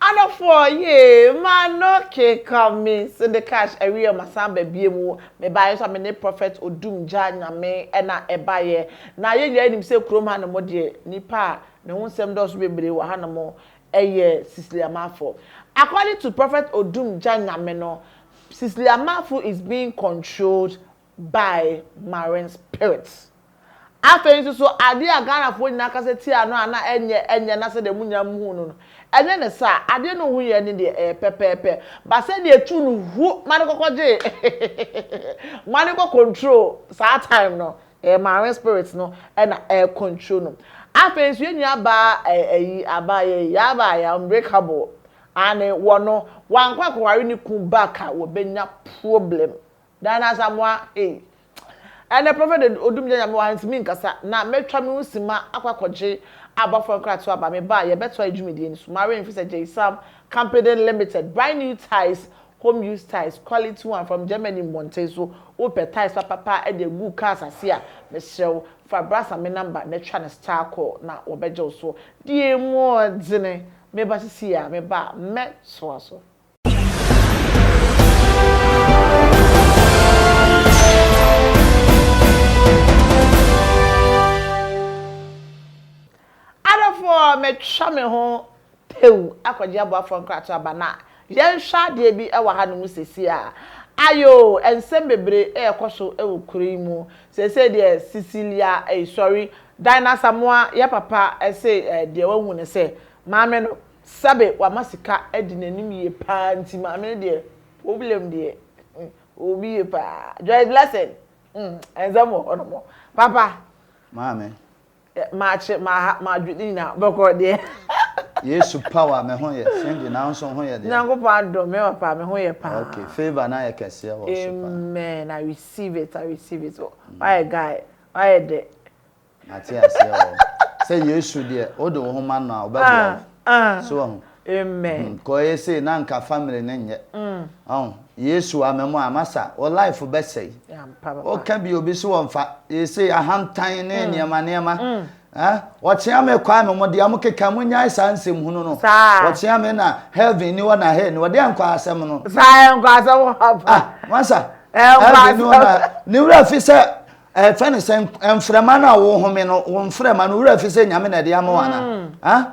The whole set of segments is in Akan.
Adɔfoɔ yee m'ano keka me se de cash awie masan ba biom wo mebaeɛ nso a me ne prophet odum gya nyame na ɛbaeɛ na yɛn nyinaa nim sɛ kurom hanom deɛ nipa a ne ho nsɛm dɔɔso bebree wɔ hanom yɛ sisliamafoɔ according to prophet odum gya nyame no sisliamafo is being controlled by marine spirits. Afei nso so adeɛ a Ghanafoɔ nyinaa kasa tia no a na ɛnyɛ ɛnyɛ na sɛdeɛ mo nyinaa muhuu no no, ɛnyɛ ne saa. Adeɛ no ho yɛ ne deɛ ɛyɛ pɛpɛɛpɛ but sɛdeɛ ɛtu no hu ma no kɔkɔ gye ma no kɔ control saa time no, ɛyɛ marine spirits no na ɛ control no. Afei nso yɛn nua baa ayi abaa yɛyi yaba yɛ unbreakable aane wɔ no wankɔ akɔware ne kunu back a wɔbɛnya problem. Diana Asamoah ei, ɛnɛ Prophet Odumgya Nyame wɔ ha ntumi nkasa na matwa me ho simma akɔ akɔgye abɔfoɔ nkratoɔ aba, mebaa a yɛbɛtoa yɛ dwumadie no so, Maureen Fisser Gyesam Compeden Limited, Buy new tiles, home use tiles, quality one from Germany Mmɔnten so, wopɛ tiles papapa de agu cars ase a, mesrɛ wo fa Brass Ame number na twa no star call na wɔbɛgye wo so, deɛ mu ɔdene, meba sesie a, meba a mɛtoa so. Adɔfoɔ metwa me ho tew akɔgye aboafoɔ nkratoɔ aba na yɛnhwɛ adeɛ bi wɔ hanom seesei a ayoo nsɛm bebree rekɔ so wɔ kuro yi mu seesei deɛ Cecilia ei sorry Dine Asamoah yɛ papa se deɛ wahu ne sɛ maame no Sɛbe wama sika adi n'anim yie paa nti maame no deɛ problem deɛ ɔwɔ bi yie paa Joyce Blessing hmm nsɛm wɔ hɔ nom papa. Maame. Makye maha madwo ne nyinaa bɔkɔɔ deɛ. Yesu power me ho yɛ Cindy nanso ho yɛ deɛ. Nyankopɔn adom me papa me ho yɛ paa. Okay favour no ayɛ kɛseɛ wɔ so paa. Amen I receive it I receive it wayɛ guy wayɛ dɛ. Mate aseɛ oo. Sɛ Yesu deɛ wode wo ho ma no a ɔbɛboa wo. So wahu? Because ɛyɛ sei na anka family no nyɛ. Wahu? Yesu ama mu a masa wo life bɛsɛe. Woka bi obi so ɔmfa. Ɛyɛ sei ahantan ne nneɛma nneɛma. Wɔkyea me Kwame mo deɛ mokeka monyae saa nsɛm hunu no. Wɔkyea me na heaven ni hɔ na hell ni hɔ. Deɛ nkɔ asɛm no. Saa nkɔ asɛm hɔ. Ah masa. Heaven ni hɔ na ne wura fi sɛ Ɛfɛ ne sɛ mfrɛma no a wohome no wo mfrɛma no wura fi sɛ nyame na ɛde ama wo ana ha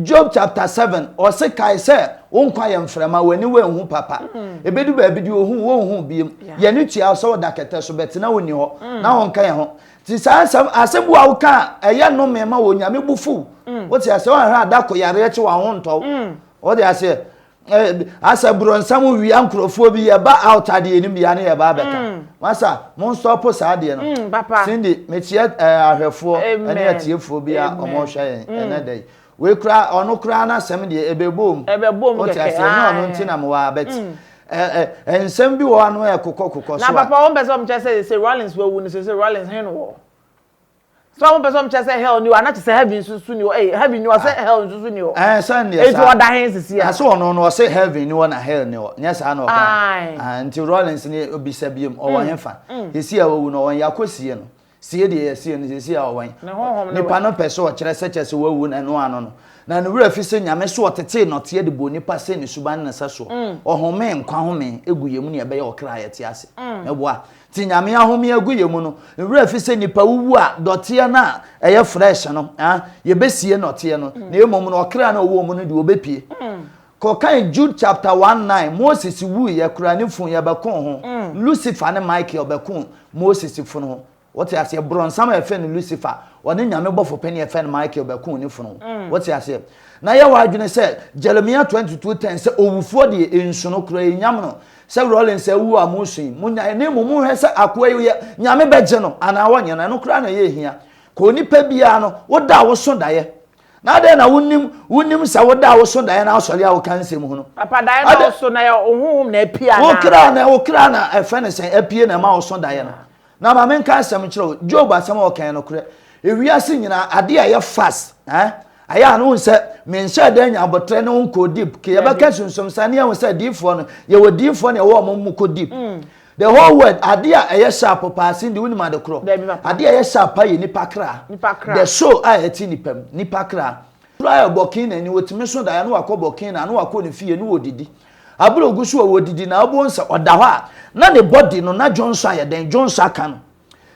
Job chapter seven ɔse kae sɛ wo nkwa yɛ mfrɛma w'ani w'anhu papa ɛbɛdu baabi deɛ ohu wonhu biom yɛne tua wo sɛ woda kɛtɛ so bɛte na wonni hɔ na wonka yɛn ho nti saa asɛm asɛm bi wa woka a ɛyɛ nnome ma wɔ nyame bu fuw wote aseɛ woanhwɛ a da ko yareɛ kye wɔ ho ntɔ wo wode aseɛ asɛ borɔnsam wia nkurɔfoɔ bi yɛba out ade yɛnim bia ne yɛba abɛka mm. masa monstɔpo saa adeɛ no mm, cindy mekyerɛ eh, ahwɛfoɔ ne atiefoɔ bi a ɔmɔhwɛ yɛn mm. ɛnɛ da yi wei kora ɔno koraa no asɛm deɛ ɛbɛbom wote aseɛ ne ɔno nti na mewɔ abɛt eh, eh, nsɛm bi wɔ ano ɛkokɔ kokɔ so a na papa wɔmpɛ sɛ ɔmkyɛ sɛ sɛ rollins wawu no sɛ sɛ rollins he no wɔ sɛ ɔmo pɛ sɛ ɔmo kyerɛ sɛ hell ni hɔ ana kyerɛ sɛ heaven nso so ni hɔ ɛyɛ heaven ni hɔ sɛ hell nso so ni hɔ ɛn sɛ ndeɛ saa eti ɔda hen sisi a ɛsɛ ɔno no ɔsɛ heaven ni hɔ na hell ni hɔ nyɛ saa na ɔka nti rollins ni obisa bi mu ɔwɔ hen fa sisi a wawu no ɔwɔ yɛ akɔ sie no sie deɛ yɛ sie no sisi a ɔwɔ yɛ nipa no pɛ sɛ ɔkyerɛ sɛ kyerɛ sɛ wawu na ɛno ano no na ne wura fi sɛ nyame so ɔtetee nɔteɛ de bɔ nipa sɛ ne suban ne nsa soɔ ɔhome nkwa home egu yɛ mu ne ɛbɛyɛ ɔkra yɛ te ase mɛboa Ti Nyame ahome agu yɛ mu no nwura fi sɛ nipa wuwu a dɔteɛ no a ɛyɛ fresh no ah yɛbɛsie nɔteɛ no na mmom no ɔkra no a ɔwɔ mu no deɛ ɔbɛpie. Kɔkan Jude chapter one nine Moses wuiɛ koraa ne funu yɛ bɛko ho Lucifer ne Michael bɛko Moses funu ho wote aseɛ brɔnsam a yɛfrɛ no Lucifer ɔne Nyame bɔfo panin a yɛfrɛ no Michael bɛko ne funu ho wote aseɛ na yɛ w'adwene sɛ Jeremiah twenty two ten sɛ owufoɔ deɛ nsu no koraa ɛnyam no Sɛ Rawlings awu a mosui, monyae, na mmom monhwɛ sɛ akoa yi yɛ, Nyame bɛgye no anaa ɔnyɛ no, ɛno koraa na ɛyɛ hia. Ka onipa biara no, wo da a woso daeɛ. Na adɛn na wonim, wonim sɛ wo da a woso daeɛ na asɔre a woka nsɛm ho no. Papa, daeɛ no a woso no, ɛyɛ wo honhom na apue anaa? Wo kra na, wo kra na ɛfɛ ne sɛn, apue na ɛma woso daeɛ no. Na ma menka asɛm nkyerɛ wo, Job asɛm a ɔka yɛ nokorɛ. Ewiase nyinaa, adeɛ a ɛyɛ fas, eh, ayɛ a na wohu sɛ menhyɛɛ da nnya aboterɛ ne wo nkɔɔ deep. Ke yɛbɛka sunsum saa, na yɛahu sɛ adiyifoɔ no, yɛwɔ diyifoɔ na yɛwɔ wɔn mu kɔ deep. The whole world, adeɛ a ɛyɛ sharp paa, Cindy, wonim ade korɔ? Dabi, papa. Adeɛ a ɛyɛ sharp paa yɛ nnipa kra. Nnipa kra. The soul a ɛte nnipa mu, nnipa kra. Kra a ɛbɔ Canaan ni, wɔtumi so daeɛ na wɔakɔ bɔ Canaan, na wɔakɔ ne fie, na wɔdidi. Abere ogu so a ɔredidi na ɔbɔ nsa ɔda hɔ a na ne body no na dwonsɔ ayɛ dɛn dwonsɔ aka no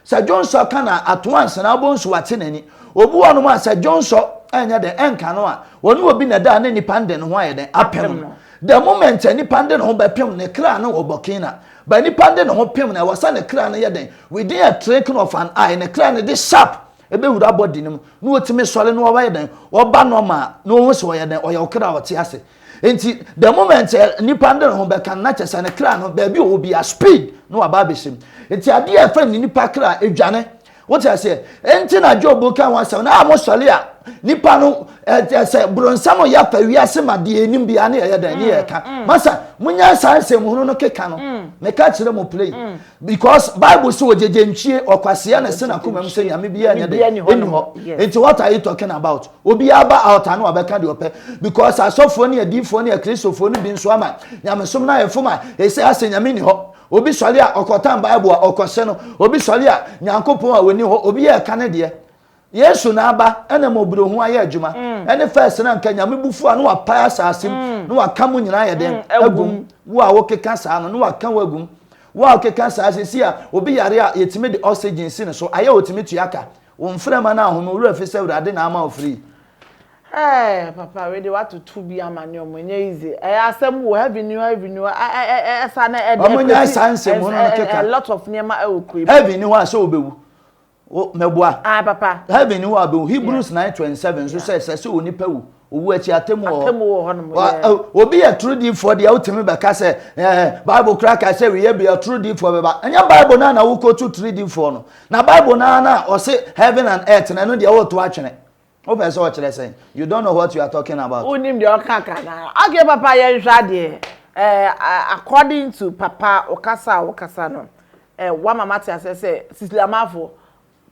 sɛ dwonsɔ aka no a atoa nsa na ɔbɔ nso wate n'ani obi wɔ nom a sɛ dwonsɔ ɛnyɛ dɛn ɛnka no a ɔne obi na da ne nipa nde ne ho ayɛ dɛn apem no the moment a nipa nde ne ho bɛpem ne kra no ɔbɔ kina ba nipa nde ne ho pem na ɛwɔ sɛ ne kra no yɛ dɛn within a trinking of an eye ne kra no de sharp ɛbɛwura body no mu na ɔtumi sɔre na ɔbɛyɛ dɛn ɔba normal na ɔhu sɛ ɔyɛ dɛn ɔyɛ ɔkra ɔte ase Nti the moment eh, nipa no de ne ho bɛka no na kyɛ sɛ ne kra no baabi ɔwɔ bia speed na waba abɛhyɛ mu. Nti adeɛ a ɛfɛ ne nipa kra adwane. Wote aseɛ? Nti na Job ka ho asɛm no a mosɔre a nipa no sɛ boronsam yɛ afa wiase ma deɛ ɛnim biara ne yɛyɛ dɛn ne yɛka. Mm, mm. Masa monya saa nsɛm hunu no keka no mm. meka kyerɛ mo play because Bible sɛ ɔgyegye ntwie ɔkwaseɛ na ɛsɛ nakoma mu sɛ nyame biara nyɛ dɛn ɛni hɔ. Nti what are you talking about? Obiara ba altar no wabɛka deɛ ɔpɛ because asɔfoɔ ne adiifoɔ ne akristofoɔ no bi nso ama nyamesom no ayɛ fom a ɛsɛ asɛ nyame ni hɔ obi sɔre a ɔkɔtan bible a ɔkɔse no obi sɔre a nyankopɔn a wɔni hɔ obi yɛ ɛka ne deɛ yesu na aba ɛna ma oburo ho ayɛ adwuma mm. ɛne fɛs na nka nyame bufu a na wapae asase mu mm. na waka mu nyinaa yɛ den mm, agum wo a wokeka saa no na waka wo agum wo a wokeka saa sisi a obi yare a yɛtumi de oxygen si ne so ayɛ ɔtumi tua ka Wo mframa no ahome, wo werɛ fi sɛ Awurade na ama wo free. Eeh papa wei deɛ watoto bi ama ne ɔmo ɛnyɛ easy ɛyɛ asɛm oo heavy ni hɔ heavy ni hɔ ɛ ɛ ɛ ɛsa na ɛde Ɔmo nya saa nsɛm hunu no keka. a lot of nneɛma ɛwɔ kuro yi mu. Heavy ni hɔ a sɛ obewu wo mɛboa. Ae papa. Heavy ni hɔ a obewu Hebrews nine twenty seven nso sɛ ɛsɛ sɛ onipa wu. Owu akyi atemmu wɔ hɔ. Atemmu wɔ hɔ nom. Obi yɛ torodiifoɔ deɛ wotumi bɛka sɛ ɛɛ Bible kura ka sɛ wiyɛ bi ɔtorodiifoɔ bɛba. Ɛnyɛ Bible naa na wokotu torodiifoɔ no. Na Bible naa na ɔse heaven and earth na ɛno deɛ woto atwene. Wopɛ sɛ ɔkyerɛ sɛn? You don't know what you are talking about. Wonim deɛ ɔka ka naa. Okay papa yɛnhwɛ adeɛ. Ɛɛ according to papa ɔkasa a wokasa no, ɛɛ wama mate aseɛ sɛ Sisilamanfoɔ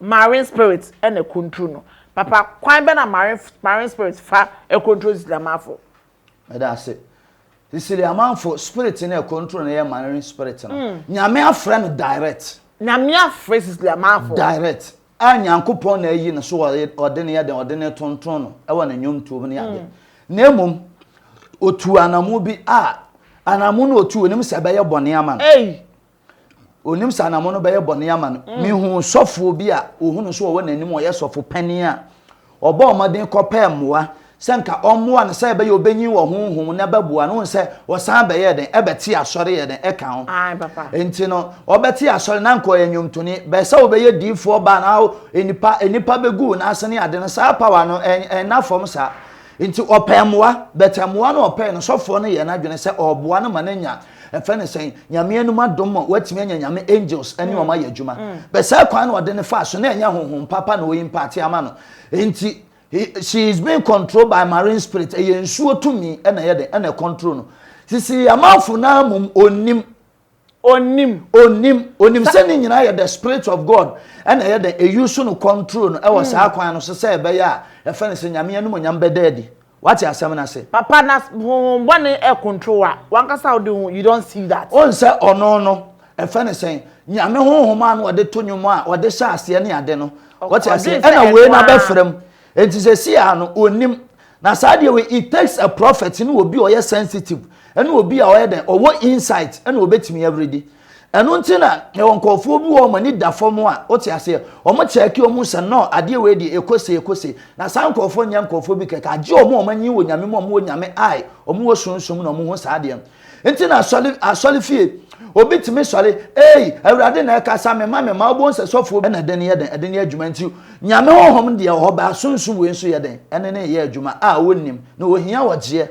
Marine spirit na ɛkontro no. Papa kwan bɛ na marine spirit fa ɛkontro Cecilia Amanfo? Meda ase. Cecilia Amanfo, spirit na ɛkontro no yɛ marine spirit no. Mm. Nyame afrɛ no direct. Nyame afrɛ Cecilia Amanfo. Direct. A Nyankopɔn na ayi no so ɔde no yɛ dɛn, ɔde no tonton no ɛwɔ ne nnwomtoɔ mu ne ade. Mm. Na mmom, ɔtuu anamo bi a, anamo no ɔtuu, ɔnim sɛ ɛbɛyɛ bɔne ama no. Ei! Onim sɛ anammɔn no bɛyɛ bɔne ama no. Mm. Mihuu sɔfoɔ bi a ohu no so ɔwɔ n'anim ɔyɛ sɔfo panin a ɔbɔɔ mmɔden kɔpɛɛ mmoa sɛ nka ɔmmoa no sɛ ɛbɛyɛ obenyin wɔ honhom na ɛbɛboa no sɛ ɔsan bɛyɛ den ɛbɛte asɔre yɛ den ɛka ho. Nti no ɔbɛte asɔre na nka ɔyɛ nnwomtoni bɛyɛ sɛ ɔbɛyɛ diifoɔ baa na nnipa nnipa bɛgu n'ase ne ade no saa pawa no ɛnna fam saa. Nti ɔpɛɛ mmoa bɛtɛ mmoa no ɔpɛɛ no sɔfoɔ no yɛ n'adwene sɛ ɔboa no ma n'anya Ɛfɛ ne sɛn? Nyame anom adom ma woatumi anya Nyame angels ɛne wɔn ayɛ adwuma. Bɛ saa kwan na ɔde no faa so na ɛnyɛ honhom papa na ɔimpaate ama no. Enti he, she is being controlled by marine spirit, ɛyɛ nsuo tumi ɛna ɛyɛ dɛn? Ɛna ɛcontrol no. Sisi Amanfo no ara mmom ɔnnim. Ɔnnim. Ɔnnim. Ɔnim sɛ ne nyinaa yɛ the spirit of God ɛna ɛyɛ dɛn? Ɛuse no control no ɛwɔ saa kwan no so sɛ ɛbɛyɛ a, yɛfrɛ no sɛ Nyame anom onyam bɛda adi. Wate asɛm no ase. Papa na honhom bɔne ɛcontrol wa wankasa wode ho you don't see that. Wohu sɛ ɔno no ɛfɛ no sɛn Nyame honhom a na ɔde to nwom a ɔde hyɛ aseɛ ne ade no wate aseɛ ɛna wei no abɛfra mu nti sɛsei ara no ɔnim na saa deɛ wei it takes a prophet ne obi a ɔyɛ sensitive ɛne obi a ɔyɛ dɛn ɔwɔ insight ɛna ɔbɛtumi awuridi Ɛno nti na yɛwɔ nkurɔfoɔ bi wɔ hɔ wɔn ani da fam a, wote aseɛ, wɔn kyɛɛke wɔn mu sɛ no adeɛ wei deɛ ɛkɔ sei ɛkɔ sei, na saa nkurɔfoɔ nyɛ nkurɔfoɔ bi kɛkɛ, agye wɔn a wɔn anyin wɔ Nyame mu a wɔn wɔ Nyame eye, wɔn wɔ sunsum mu na wɔn hu saa adeɛ no. Nti na asɔre asɔre fie, obi tumi sɔre, eei Awurade na ɛkasa me ma me ma, wobɛhu sɛ sɔfoɔ bi na ɛde no yɛ dɛn, ɛde no yɛ adwuma, nti Nyame Honhom deɛ wɔ hɔ baa sunsum wei nso yɛ dɛn, ɛne no reyɛ adwuma a wɔnnim, na wɔhia ɔgyeɛ.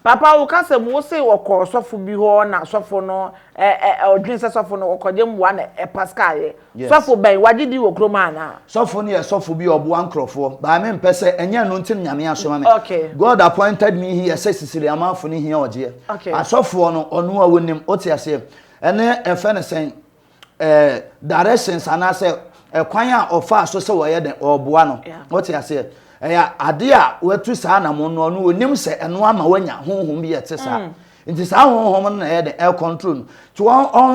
Papa wo ka sɛ wo se wɔkɔɔ sɔfo bi hɔ na sɔfo no ɛ ɛ ɔdwen sɛ sɔfo no ɔkɔgye mmoa na ɛ paska yɛ. Yes. Sɔfo bɛn? Wagye din wɔ kurom anaa? Sɔfo no yɛ sɔfo bi a ɔboa nkorɔfoɔ but me mpɛ sɛ ɛnyɛ ɛno nti na Nyame asoma me. Okay. God appointed me here sɛ Sisiri Amanfo no hia ɔgyeɛ. Okay. Asɔfoɔ no ɔno a wonim, wote aseɛ? Ɛnɛ yɛfrɛ no sɛn? eh, directions anaasɛ ɛkwan a ɔfaa so sɛ wɔyɛ dɛn ɔboa no wɔte aseɛ ɛyɛ ade a watu saa anamo no ɔno onim sɛ ɛno ama wanya honhom bi ɛte saa mm. nti saa honhom no na ɛyɛ dɛn ɛkɔntro no nti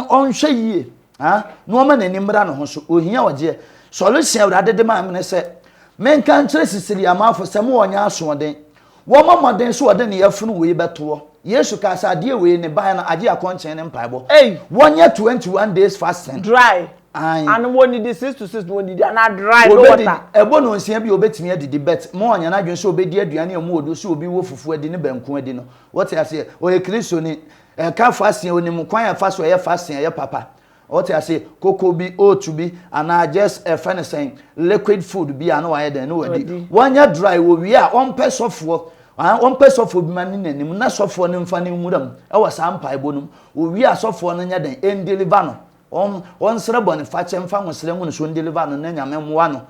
ɔnhwɛ yie na ɔma n'ani mmra ne ho so ohia ɔgyeɛ solution awurade de maa me ne sɛ menka nkyerɛ sisiri amafo sɛ mo wɔnyɛ asoɔden Wɔmmɔ mmɔden sɛ wɔde ne yafunu wei bɛto hɔ. Yesu kaa sɛ adeɛ wei, ne ban no, agye akɔnkyen ne mpaebɔ. Ei! Wɔnyɛ twenty one days fasting. Dry. Ae. Ano wɔnnidi six to six na wɔnnidi anaa dry, no water. Wɔbɛdidi. Ɛbɔ nnɔnsia bi a wɔbɛtumi adidi but ma wɔnyɛ n'adwene sɛ wɔbɛdi aduane a ɛmu wɔ duro sɛ obi wɔ fufuo adi ne banku adi no. Wote aseɛ? Ɔyɛ Kristoni. Ɛka fasting a ɔnim kwan a ɛfa so yɛ fasting a ɛyɛ papa. Ɔte ase, koko bi, oat bi, anaa just yɛfrɛ no sɛn, liquid food bi a na wayɛ dɛn, na wadi. Wadi. Wanyɛ dry, owie a, ɔmpɛ sɔfoɔ, aah, ɔmpɛ sɔfoɔ bi ma ne n'anim, na sɔfoɔ no mfa ne nwura mu wɔ saa mpaebɔ no mu. Owie a, sɔfoɔ no nyɛ dɛn, ndeliver no, ɔn, ɔnsrɛ bɔnefakyɛ mfa ahosrɛ ngu no so ndeliver no na Nyame mmoa no.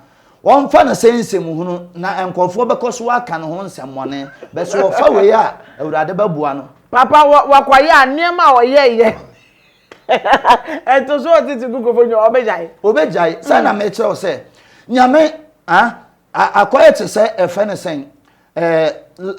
Ɔmfa no sɛ nsɛm hunu, na nkorɔfoɔ bɛkɔ so aka ne ho nsɛmmɔne, but sɛ ɔfa wei a, Awurade bɛboa no. Papa, wɔ, wakɔyɛ a, nneɛma a ɔyɛeɛ. ɛto so ɔte te kukurofo nyɛ ɔbɛgyae ɔbɛgyae sɛ hmm. na mekyerɛ wo sɛ nyame akɔyɛ te sɛ ɛfɛ ne sɛn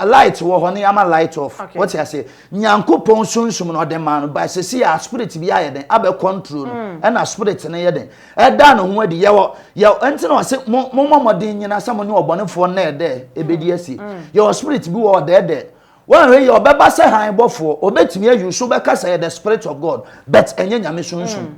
light wɔ hɔ ne ama light off wɔte ase nyankopɔn sunsum no ɔde maa no ba sɛsi a spirit bi ayɛ den abɛ control no hmm. ɛna spirit no yɛ den ɛda ne ho adi yɛwɔ yɛ ɛnti na ɔse mo mo mmɔden nyina sɛ mo ne ɔbɔnefoɔ nnɛɛdɛ ɛbɛdi asi hmm. yɛwɔ spirit bi wɔ ɔdɛɛdɛ Woanhwɛ yie a, ɔbɛba sɛ hann bɔfoɔ. Ɔbɛtumi ayi wo so bɛka sɛ ɛyɛ the spirit of God, but ɛnyɛ Nyame sunsum. Mm.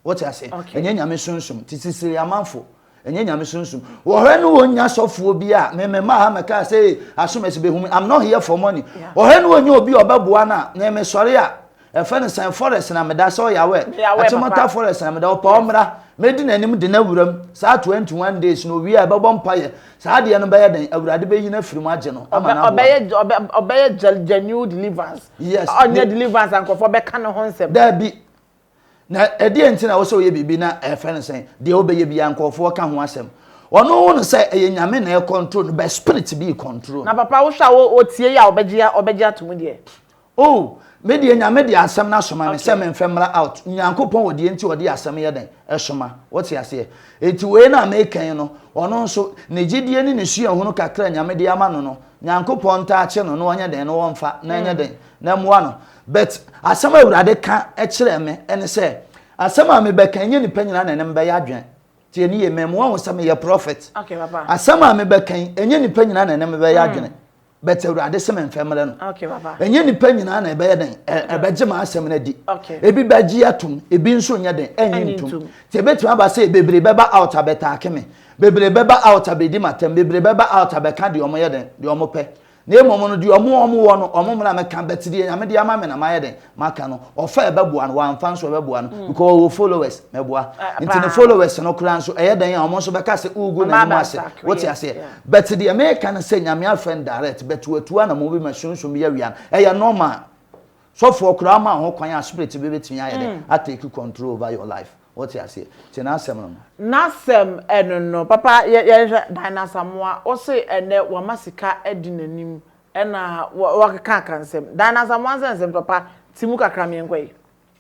Wote ase? Okay. Ɛnyɛ Nyame sunsum. Te sisire amanfo. Ɛnyɛ Nyame sunsum. Wɔhwɛ no wɔnya sɔfoɔ bi a, me mema ha mɛka sɛ, ee, asom ɛsɛ bɛhu me. I'm not here for money. Yeah. Wɔhwɛ no wɔnya obi a ɔbɛboa no a, na mesɔre a, Yɛfrɛ no sɛn forest na meda sɛ ɔyawɛ Me yawɛ akyemɔta papa. forest na meda ɔpɛ ɔmmra mɛdi n'anim de no awura mu saa 21 days no owie a yɛbɛbɔ mpaeɛ saa adeɛ no bɛyɛ dɛn awurade bɛyi no afiri mu agye no ama Ɔbɛ no aboa ɔbɛyɛ no. ɔbɛ ɔbɛyɛ gya genuine deliverance. Yes, Ɔnyɛ ne- deliverance a nkurɔfoɔ bɛka ne ho nsɛm. Daabi. Na ɛdeɛn nti na ɛwɔ sɛ ɔyɛ biribi na yɛfrɛ no sɛn deɛ ɔbɛyɛ biara nkurɔfoɔ ka ho asɛm ɔno ɔhu no sɛ ɛyɛ Nyame na ɛcontrol no but spirit bi recontrol Na no. papa wohwɛ a wo otie yi a ɔbɛgye ɔbɛgye ato mu deɛ. Oh me deɛ Nyame de asɛm no asoma me sɛ menfɛ mmra out, Nyankopɔn wɔ deɛ nti ɔde asɛm yɛ dɛn? soma, wote aseɛ? Enti wei no a meka yi no, ɔno nso, ne gyedie ne ne suahunu kakra a Nyame de ama no no, Nyankopɔn ntaa kye no na ɔnyɛ dɛn na ɔmfa na ɛnyɛ dɛn? na ɛmoa no. But asɛm a Awurade ka kyerɛɛ me ne sɛ, asɛm a mebɛka ɛnyɛ nnipa nyinaa na ɛne me bɛyɛ adwen. Tie no yie, mamua wo sɛ meyɛ prophet. Okay papa. Asɛm a mebɛka yi, ɛnyɛ nnipa nyinaa na ɛne me bɛyɛ adwene. but awurade sɛ memfɛ mmerɛ no ɛnyɛ nipa nyinaa na ɛbɛyɛ dɛn ɛbɛgye ma asɛm no adi ebi bɛgye atom ebi nso nyɛ dɛn ɛnye ntom nti ɛbɛtumi aba sɛ bebree bɛba out abɛtaake me bebree bɛba out abɛdi matam bebree bɛba out abɛka deɛ ɔmo yɛ dɛn deɛ ɔmo pɛ na mmom no deɛ ɔmo ɔmo wɔ no ɔmo mmra mɛka bɛte deɛ nyame de ama me na mayɛ dɛn maka no ɔfa ɛbɛboa no wamfa nso ɛbɛboa no mm. because ɔwɔ followers mɛboa ah, nti ne followers no koraa nso ɛyɛ dan a wɔn nso bɛka sɛ ugu na ɛmu ase wote aseɛ but deɛ mɛka no sɛ nyame afɛ no direct but watua na mo bi ma sunsun bi awia no ɛyɛ normal sɔfoɔ koraa ma ho kwan a spirit bi bɛtumi ayɛ dɛ mm. atake control over your life wote aseɛ nti n'asɛm no n'asɛm ɛno no papa yɛhwɛ dan n'asamoa ɔse ɛnɛ wama sika adi n'anim Ɛna wɔ wɔkeka aka nsɛm. Dan na Asamoah nsɛ nsɛm tɔ pa te mu kakra me nkɔ yi.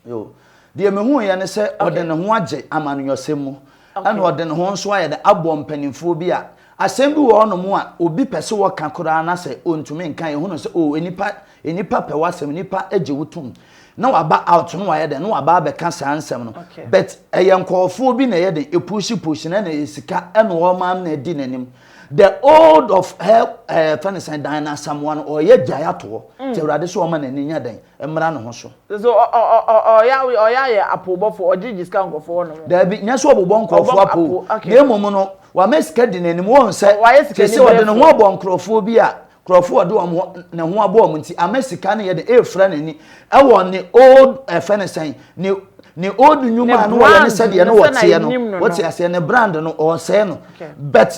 Yoo. Deɛ me hu yɛ ne sɛ ɔde ne ho agye amanuyɔsɛm mu. Ɛna ɔde ne ho nso ayɛ dɛ abɔ mpaninfoɔ bi a asɛm bi wɔ hɔ nom a obi pɛ sɛ ɔka koraa na sɛ ɔntumi nka yɛ hunu sɛ oo nnipa nnipa pɛ w'asɛm nnipa gye wo tom na waba out na wayɛ dɛ na waba abɛka saa nsɛm no but ɛyɛ nkɔɔfoɔ bi na ɛyɛ dɛ ɛpuusi puusi na ɛna ɛyɛ sika ɛna ɔma na ɛdi n'anim the old of her ɛɛ eh, fɛn ne sɛn dan n'asamoa no ɔyɛ gyae atoɔ mm. te awurade so ɔma n'ani nya dɛn mmra ne ho so. so ɔyɛ ɔyɛ ayɛ apobɔfo ɔgye gye sika nkɔfo hɔ nom. daabi nyɛ sɛ ɔbobɔ nkɔfo apo na mmom no wama sika di n'anim wɔn sɛ te sɛ ɔde ne ho abɔ nkorɔfoɔ bi a Nkurɔfoɔ a ɔde wɔn ho ne ho abɔ wɔn nti ama sika no yɛ dɛ ɛrefira n'ani wɔ ne old ɛfɛ ne sɛn ne ne old nnwuma a no wɔyɛ ne sɛdeɛ no wɔteɛ no wɔte aseɛ ne brand no ɔresɛe no but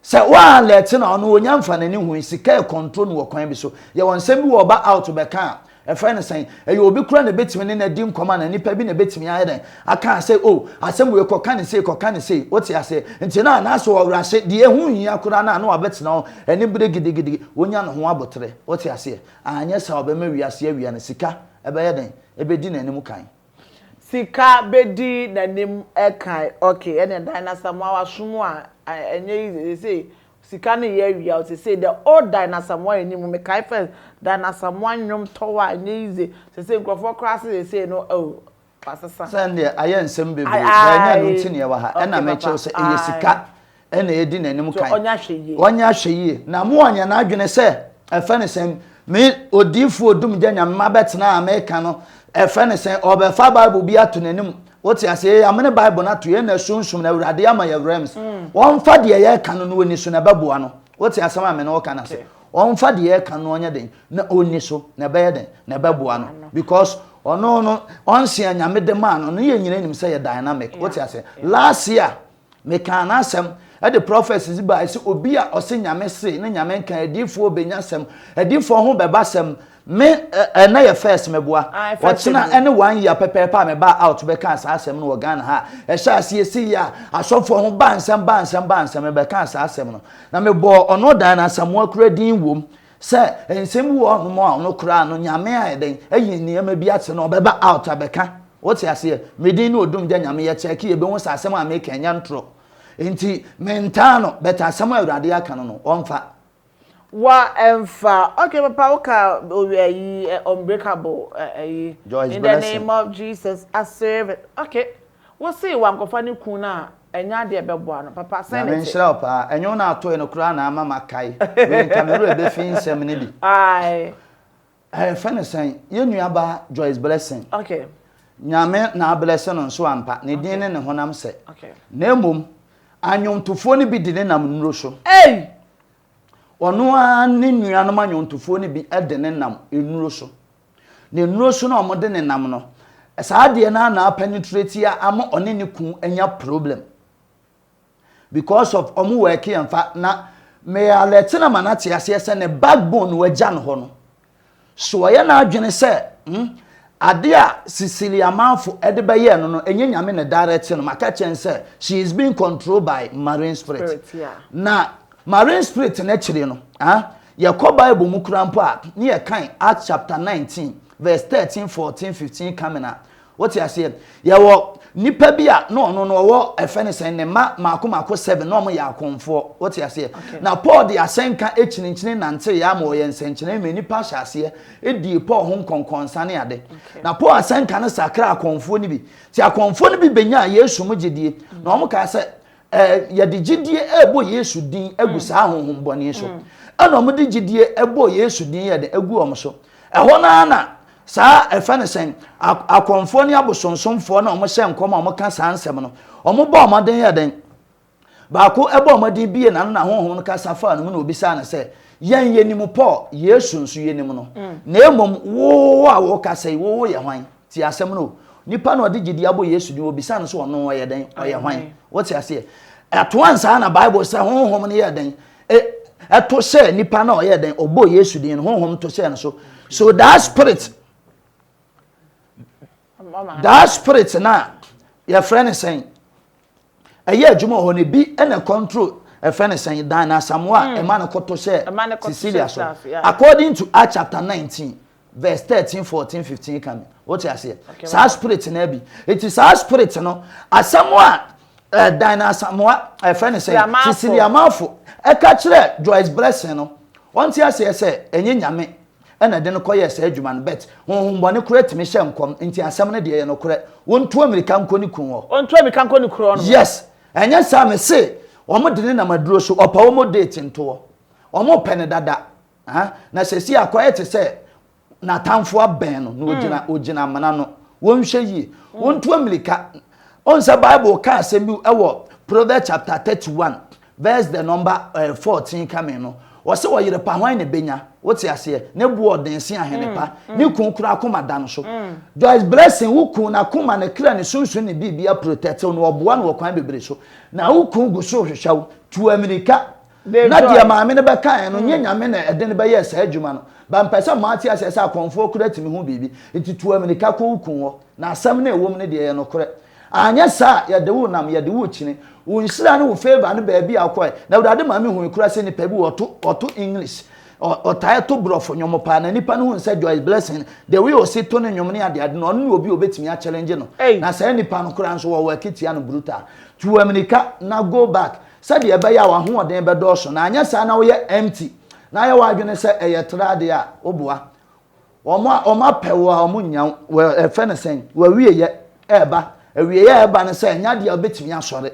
sɛ waa lɛte na ɔno wɔnya mfa n'ani hui sika ɛkɔntro no wɔ kwan bi so yɛwɔ nsɛm bi wɔ ɔba out bɛka a Ɛfrɛ no sɛn? Ɛyɛ obi koro na ɛbɛtumi ne no adi nkɔmmɔ anaa nipa bi na ɛbɛtumi ayɛ dɛn? Akaa sɛ, Oh, asɛm wei kɔka no sei, kɔka no sei. Wote aseɛ? Nti na na sɛ ɔwerɛ se deɛ ɛho nhia koraa no a na wabɛtena hɔ ani bere gidigidi, wanya ne ho aboterɛ. Wote aseɛ? Anyɛ saa a ɔbɛma wiase awia no, sika bɛyɛ dɛn? Ɛbɛdi n'anim kan. Sika bɛdi n'anim kan. Okay, ɛnneɛ Dan Asamoah, wasom a, ɛnyɛ easy. Seesei Sika no yɛ awia o sesei dɛ oh Diana Asamoah yɛ ni mu mekae first Diana Asamoah nnwom tɔw a ɛnyɛ easy sesei nkurɔfoɔ koraa se sesei no oh wasesa. Sɛ ɛndeɛ ayɛ nsɛm bebree bɛɛ nyɛ ɛno nti na yɛwɔ ha ɛna mekyerɛ wo sɛ ɛyɛ sika ɛna ɛdi n'anim kan ɔnyɛ ahwɛ yie na mo ɔnyɛ n'adwene sɛ ɛfɛ ne sɛn me odiifoɔ Odumgya Nyame mabɛtena a meka no ɛfɛ ne sɛn ɔbɛfa bible bi ato n'anim Wote ase yɛ amene Bible no ato yɛn na sunsum na Awurade ama yɛ werɛ ms. Wɔmfa deɛ yɛka no na ɔni so na ɛbɛboa no. Wote asɛm a me ne wo ka no ase. Wɔmfa deɛ yɛka no na ɔnyɛ dɛn na ɔni so na ɛbɛyɛ dɛn na ɛbɛboa no because ɔno no ɔnse a Nyame de maa no no yɛn nyinaa nim sɛ yɛ dynamic. Wote ase last year Mekaa n'asɛm de prophecy dze bae sɛ obi a ɔse Nyame see na Nyame nkae adiifoɔ benya sɛm, adiifoɔ ho bɛba sɛm, me ɛnnɛ yɛ first meboa. Ɔkyena ɛne one year pɛpɛɛpɛ a mebaa out bɛkaa saa asɛm no wɔ Ghana ha a ɛhyɛɛ ase yɛsii yɛ a asɔfoɔ ho baa nsɛm baa nsɛm baa nsɛm mebɛkaa saa asɛm no na mebɔɔ ɔno ɔdan no Asamoah kura din wom Sɛ nsɛm bi wɔ hɔnom a ɔno koraa no Nyame ayɛ dɛn ayi nneɛma bi akyerɛ no ɔbɛba out abɛka wote aseɛ me din ne Odumgya Nyame yɛ check yɛbɛhu sɛ asɛm a meka ɛnyɛ ntorɔ nti mentaa no but asɛm a Awurade aka no no ɔmfa wa ɛmfa ok papa woka owie ayi unbreakable ayi in the name of Jesus I serve it ok. Wo see wankɔfa ne kun no a ɛnyɛ adeɛ ɛbɛboa no papa sɛn ne te. Nyame nhyira wo paa ɛnyɛ wo na atoe no koraa na ama makae wei nka me werɛ bɛfi nsɛm no bi. Ae. Ɛɛ yɛfrɛ no sɛn yɛ nua baa Joyce Blessing. Okay. Nyame na ablɛse no nso ampa ne din ne ne honam sɛ Okay. na mmom anwontofoɔ no bi de ne nam nnuro so. Ei! Ɔno ara ne nuanom anwontofoɔ no bi de ne nam nnuro so. Ne nnuro so na wɔde no nam no, saa adeɛ no ara na apenetrate a ama ɔne ne kun anya problem. Because of wɔn work yɛn fa na me alert na ma no ate aseɛ sɛ ne backbone no agya no hɔ no. So ɔyɛ n'adwene sɛ hmm, adeɛ a Sicily amanfo de bɛyɛɛ no no, ɛnyɛ Nyame na direct no. Maka kyerɛ no sɛ she is being controlled by marine spirit. Spirit, yeah. Na marine spirit no akyire no, ah, Yɛkɔ Bible mu koraa mpo a, ne yɛkan Acts chapter nineteen verse thirteen, fourteen, fifteen coming a, wote aseɛ? Yɛwɔ nipa bi a na ɔno no ɔwɔ ɛfɛ ne sɛn ne mma mako mako seven na wɔn yɛ akɔnfoɔ, wote aseɛ? Okay. Na Paul de asɛnka akyinkyini nante yɛ ama ɔyɛ nsɛnkyerɛnne ma nipa hyɛ aseɛ edie Paul ho nkɔnkɔnsa ne ade. Okay. Na Paul asɛnka no sakra akɔnfoɔ no bi, ti akɔnfoɔ no bi benyaa Yesu mu gyedie, na wɔn kaa sɛ. Eh, yɛde gyidie ɛrebɔ Yesu din agu mm. saa honhom bɔne so. Mm. Ɛna wɔn de gyidie ɛbɔ Yesu din yɛ de agu wɔn so. Ɛhɔ no ara na saa ɛfɛ no sɛn akɔnfoɔ ne abosonsomfoɔ na wɔn hyɛ nkɔm a wɔn ka saa nsɛm no wɔn bɔ wɔn den yɛ den baako ɛbɔ wɔn den bie na no na honhom no kasa faa no mu na obisaa no sɛ yɛn yɛ nim paul yesu nso yɛ nim no mm. na emom wo a wɔkasa yi wo yɛ hwan Tie asɛm no o. Nipa na ɔde gyedie abɔ Yesu din, wɔbisaa no sɛ ɔno ɔyɛ dɛn, ɔyɛ hwan. Wote aseɛ? Ɛto ansa na Bible sɛ honhom no yɛɛ dɛn? Ɛto hyɛɛ nipa na ɔyɛɛ dɛn, ɔbɔɔ Yesu din no, honhom to hyɛɛ no so. So that spirit, that spirit no a, yɛfrɛ no sɛn? Ɛyɛ adwuma wɔ hɔ no ebi na control ɛfrɛ no sɛn dan na asamoa a ɛma no kɔto hyɛ Cecilia so according to Acts chapter nineteen verse thirteen fourteen fifteen ka me wote aseɛ saa spirit no abi eti saa spirit no asamoa ɛɛ dan na asamoa ɛfrɛ no sɛn Cecilia Marfo ɛka kyerɛ Joyce Blessing no wɔn ti aseɛ sɛ ɛnyɛ nyame Ɛna ɛde no kɔyɛɛ saa adwuma no, but honhom bɔne koraa tumi hyɛ nkɔm, nti asɛm no deɛ ɛyɛ nokorɛ, wontu amirika nkɔ ne kun hɔ. Wɔntu amirika nkɔ ne kuro no mu. Yes, ɛnyɛ saa me se, wɔn de no nam aduro so, ɔpɛ wɔn date ntoɔ, wɔn pɛ no dada, ah, na seesei akɔyɛ te sɛ n'atamfoɔ abɛn no, na ogyina, ogyina amena no, wɔnhwɛ yie, wontu amirika Wohu sɛ Bible ka asɛm bi wɔ Proverbs chapter thirty one verse the number eh, fourteen kame no. Wɔse ɔyere pa hwan na ebenya? Wote aseɛ? Ne boɔ ɔden se ahene pa. Ne kun kura akoma da no so. Joyce Blessing, wo kun n'akoma, ne kra, ne sunsun, ne biribia protectew no, ɔboa no wɔ kwan bebree so. Na wo kun gu so rehwehwɛ wo. Tu amirika. Na deɛ maame no bɛkaeɛ no, nyɛ Nyame na ɛde no bɛyɛɛ saa adwuma no. But mpɛ sɛ moate aseɛ sɛ akɔmfoɔ kura tumi ho biribi. Nti tu amirika kɔ wo kun hɔ. Na asɛm no a ɛwom no deɛ ɛyɛ nokorɛ. Anyɛ saa a, yɛde wo nam, yɛde wo kyini. Wo nhyira ne wo favour no baabi a wokɔɛ. Na Awurade ma mehui koraa sɛ nipa bi wɔ ɔto, ɔto English. Ɔ, ɔtaeɛ to brɔfo nnwom paa. Na nipa no hui sɛ Joyce Blessing, the way ɔsi to ne nnwom ne adeade no, ɔno ne obi a ɔbɛtumi a challenge no. Ei! Na saa nipa no koraa nso wɔwɔ akitia no brutal. Tu amirika na go back. Sɛdeɛ ɛbɛyɛ a w'ahoɔden bɛdɔɔso, na anyɛ saa na woyɛ empty, na ayɛ w'adwene sɛ ɛyɛ tra adeɛ a, woboa wɔn a wɔapɛ wo a wɔnnya wo. Wɔ, yɛfrɛ no sɛn? W'awieɛ reba. Awieɛ a ɛreba no sɛ ɛnyɛ adeɛ a wobɛtumi asɔre.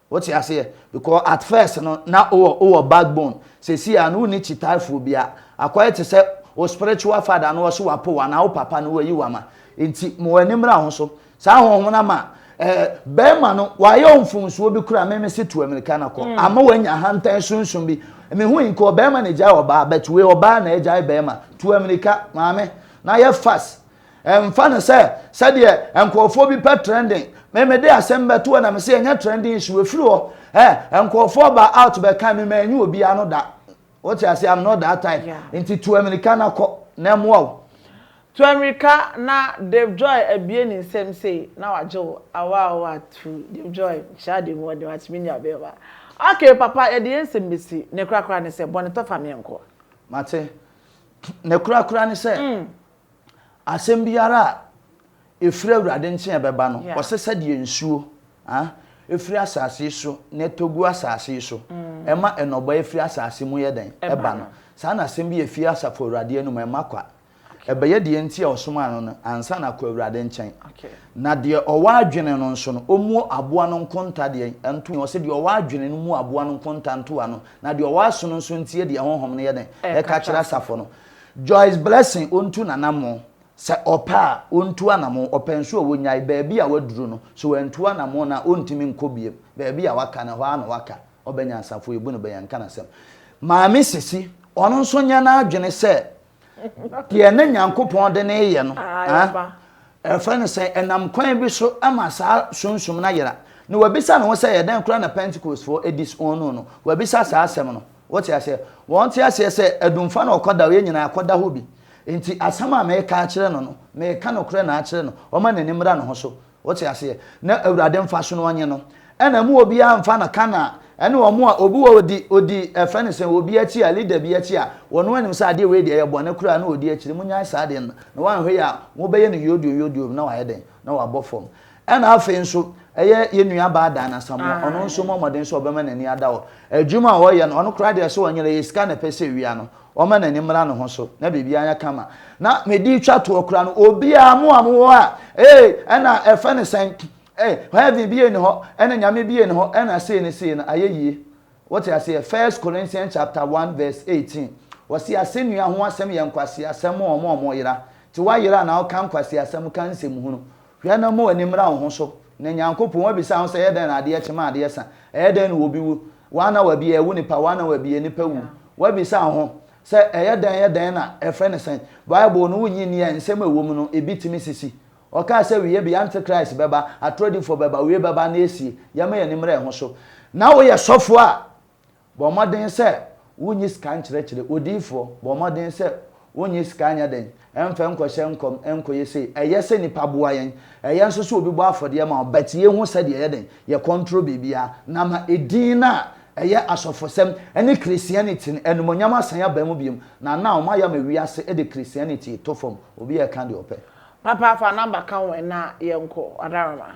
Wote aseɛ? Because at first no, na wowɔ, wowɔ backbone. Seesei a no wonni kyitaafoɔ biara. Akɔyɛ te sɛ wo spiritual father no ɔse wapo wo anaa wo papa no wayi wo ama. Enti ma w'ani mmra wo ho so. Saa honhom no ama eh, bɛrima no wayɛ mfomsoɔ bi kura meme se tu amirika no kɔ mm. ama wanya ahantan sunsum bi mehu nka ɔbɛrima na agyae ɔbaa but wei ɔbaa na agyae bɛrima tu amirika maame na yɛ fast ɛmfa no sɛ sɛdeɛ nkurɔfoɔ bi pɛ trending meme de asɛm bɛto hɔ na mese ɛnyɛ trending issue ɛfiri hɔ ɛ nkurɔfoɔ ba out bɛka me ma ɛnyɛ obiara no da Wote aseɛ am not that type Yeah. nti tu amirika na kɔ na ɛmoa wo. Tu amirika na Dave Joy abue ne nsam sei na wagye wo awaa awaa tu Dave Joy nhyɛ ade mu ɔde watumi nya bɛɛma ok papa yɛde yɛn nsɛm bɛsi ne korakora ne sɛ bɔne tɔ fa meɛnkɔ. Mate. Ne korakora ne sɛ. Asɛm biara a ɛfiri Awurade nkyen a ɛbɛba no, ɔsɛ sɛdeɛ nsuo a ɛfiri asase so na ɛtɔ gu asase so, ɛma nnɔbaeɛ firi asase mu yɛ dɛn? Ɛba no, saa na asɛm bi a ɛfiri Asafo Awurade anom a ɛma kwa. Ɛbɛyɛ deɛ nti a ɔsomaa no no ansa na akɔ Awurade nkyɛn. Na deɛ ɔwɔ adwene no nso no, ɔmmuo aboa no nkonta deɛ ntoa. Ɔse, deɛ ɔwɔ adwene no mmuo aboa no nkonta ntoa no, na deɛ ɔwɔ aso no nso ntie deɛ Honhom no yɛ dɛn? Ɛka kyerɛ asafo no. Joyce Blessing ɔntu n'anammɔn, sɛ ɔpɛ a, ɔntu anammɔn, ɔpɛ nso a ɔnyae, baabi a waduru no, sɛ wantu anammɔn no a, ɔntumi nkɔ biom, baabi a waka no, ɛhɔ ara na waka, ɔbɛ nyansafo, yɛbu no bɛ, yɛnka n'asɛm. Maame Sisi, ɔno nso nyɛ n'adwene sɛ deɛ na Nyankopɔn de no reyɛ no, ɛfrɛ no sɛn, ɛnam kwan bi so ma saa sunsum no ayera, na wabisa ne ho sɛ ɛyɛ dɛn koraa na Pentecostefoɔ disowned no, wabisa saa asɛm no. Wote aseɛ? Wɔnte aseɛ sɛ Adumfoɔ na wɔkɔda hɔ, yɛn nyinaa yɛakɔda hɔ bi. Enti asɛm a mereka akyerɛ no no, mereka nokorɛ na akyerɛ no, ɔmma n'ani mmra ne ho so. Wote aseɛ? Na Awurade mfa so na ɔnye no. Ɛna mmu obiara mfa no ka na ɛne wɔn a obi wɔ ɔdi, ɔdi, ɛfrɛ no sɛn, obi akyi a, leader bi akyi a, ɔno anim sɛ adeɛ wei deɛ ɛyɛ bɔne koraa na ɔdi akyire. Monnyae saa adeɛ no. Na woanhwɛ yie a, mobɛyɛ no yoodio yoodio bi na wayɛ dɛn? Na wabɔ fam. Ɛna afei nso, ɛyɛ yɛn nuabaa Dan Asamoah, ɔno nso mmɔ mmɔden sɛ ɔbɛma n'ani ada hɔ. Adwuma a ɔyɛ no, ɔno koraa deɛ sɛ ɔnyera, ɛyɛ sika na ɛpɛ sɛ ɛwia no, ɔma n'ani mmra ne ho so, na biribiara nyɛ kama. Na mede retwa toɔ koraa no, obiara, mo a mowɔ hɔ a, ee, ɛna ɛfɛ no sɛn? Ee, heaven bie nni hɔ, ɛna Nyame bie nni hɔ, ɛna sei ne sei no, ayɛ yie. Wote aseɛ? First Corinthians chapter one verse eighteen, wɔse asɛnnua ho asɛm yɛ nkwaseasɛm ma wɔn a wɔyera. Nti woayera anaa woka nkwaseasɛm, woka nsɛmhunu, Hwɛ na mmu w'ani mmra wo ho so, na Nyankopɔn abisa wo sɛ, ɛyɛ dɛn na adeɛ kye ma adeɛ sa? Ɛyɛ dɛn na obi wu? Woa na wabie ɛwo nipa, woa na wabie nipa wu. Woabisa wo ho sɛ, ɛyɛ dɛn, ɛyɛ dɛn na, ɛfrɛ no sɛn? Bible no, wonnye nni a nsɛm a ɛwɔ mu no, ebi tumi sisi. Ɔkaa sɛ, awieyɛ bɛyɛ, Antichrist bɛba, atorɔdifoɔ bɛba, awieyɛ bɛba na asie. Yɛmma yɛn ani mmra yɛn ho so. Na woyɛ sɔfoɔ a, Bɔ mmɔden sɛ wonnye sika nkyerɛkyerɛ odiyifoɔ, bɔ mmɔden sɛ wonnye sika nyɛ dɛn, mmfa nkɔhyɛ nkɔm, nkɔyɛ sei. Ɛyɛ sɛ nnipa boa yɛn. Ɛyɛ nso sɛ obi bɔ afɔdeɛ ma wo, but yei ho sɛdeɛ yɛ dɛn, yɛ control biribiara, na ma edin no a ɛyɛ asɔfosɛm ne Christianity no animuonyam asan aba mu bio, na now moayɛ ama wiase de Christianity to fam, obiara ka deɛ ɔpɛ. Papa fa number ka ho ɛna yɛnkɔ, Adarama.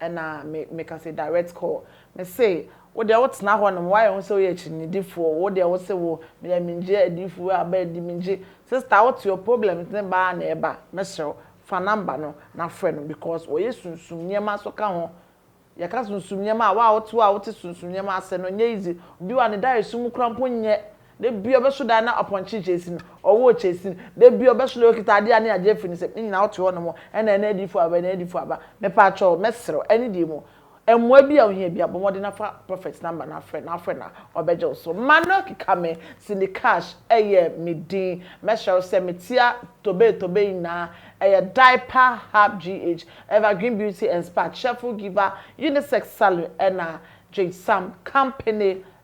Ɛna me, meka sɛ, Direct call. Me se, Wo deɛ wotena hɔnom, woayɛ wo ho sɛ woyɛ akyinnyedifoɔ, wo deɛ wo se wo, meyɛ mengye adiyifoɔ aba adi, mengye. Sister, wote your problems ne ba ara na ɛba. Mɛsrɛ wo, fa number no na frɛ no because wɔyɛ sunsum nneɛma nso ka ho. Yɛka sunsum nneɛma a, wo a wote hɔ a wote sunsum nneɛma ase no, ɛnyɛ easy. Obi wɔ a ne daeɛso mu koraa mpo nyɛ. Da biara ɔbɛso da na ɔpɔnkye kyɛɛsi no, ɔwɔɔ kyɛɛsi no. Da biara ɔbɛso da ɔkita adeɛ a ne agye afiri ne nsam. Ne nyinaa wote hɔnom ɛna ɛna adiyifoɔ aba, ɛna adiyifoɔ aba. Mepaakyɛw, mɛsrɛ wo, ɛne deɛ mu, mmoa bi a wohia biara, bɔ mmɔden na fa Prophet number no afrɛ no, afrɛ no a, ɔbɛgye wo so. Ma no keka me, Cindy Cash ɛyɛ me din. Mɛsrɛ wo sɛ, metia Tobe Tobe nyinaa, ɛyɛ Diaper Hub GH, Evergreen Beauty and Spa, Cheerful Giver, Unisex Salon ɛna Jade Sam Company